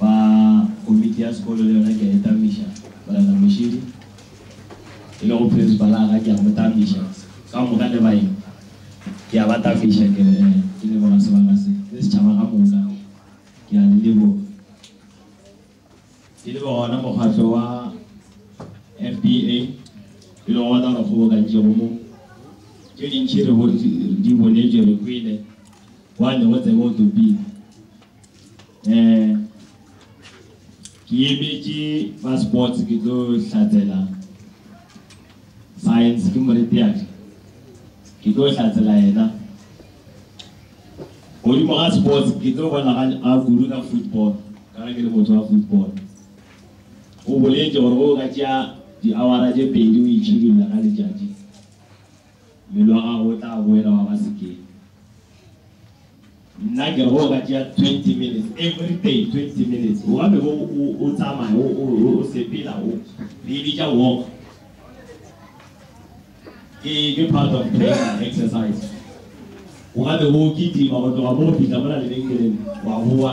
Ba komiti ya sekolo le yona ke a e tamiša, Morena Mošidi, e lego Prinsipala ga ke a mo tamiša, ka moka le baeng ke a ba tamiša, ke re, ee, ke leboga sebaka se, le setšhaba ka moka, ke a le leboga. Ke leboga wona mokgatlo wa FBA, e lego wona o re kgobokantšego mo. Tše dintši re di bonetše, re kwele. Wa tle go tsebe o topile. Eh, ke emetše ba sports ke tlo hlatsela science ke moretiatle. Ke tlo hlatsela yena. Godimo ga sports ke tlo bona ga a kudu ka football ka ge ke le motho wa football. O boletše gore o ka tšea di-hour-a tše pedi o itšhidulla ka letšatši. Mmele wa gago o tla boela wa ba sekeng. Nna ke re go ka tšea twenty minutes everyday, twenty minutes o ka be bo o o tsamaya o o o o sepela o re e bitša walk. Ke ke part of training exercise. O ka be bo o kitima go tloga mo go fihla mola lebenkeleng wa boa.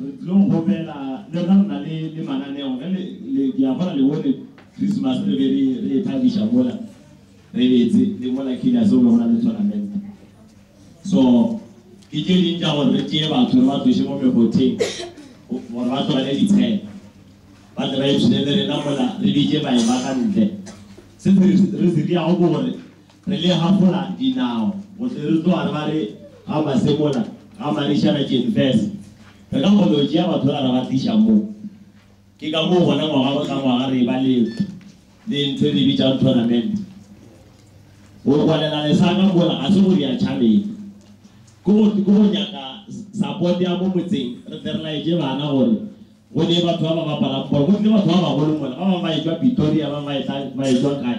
Re tlilo go kgopela le rena re na le le mananeo ge le le ke a bona le bone Christmas re be re re e thabiša mola re betse le mola kila se go na le tournament so ke tše ding tša gore re tšee batho re ba tloše mo mekgotheng gore ba tlogele ditshela ba tle ba ipshine le rena mola re bitše bae ba ka ntle se re se diago ke gore Re le hafola dinao go tle re tloga re ba re ga Masemola ga Manišana Tšenfese. Re ka kgona go tšea batho ba ra ba tliša mo. Ke ka moo gona ngwaga go tla ngwaga re eba le le ntho e re bitšang tournament. Go rwalela lesaka mola ga se go rea tšhabeng. Ke go ke go nyaka support ya mo motseng re tle re laetše bana gore go ne batho ba ba bapalang bolo. Go tle batho ba bagolo mola ba bangwe ba etšwa Pretoria ba bangwe ba etla ba etšwa kae.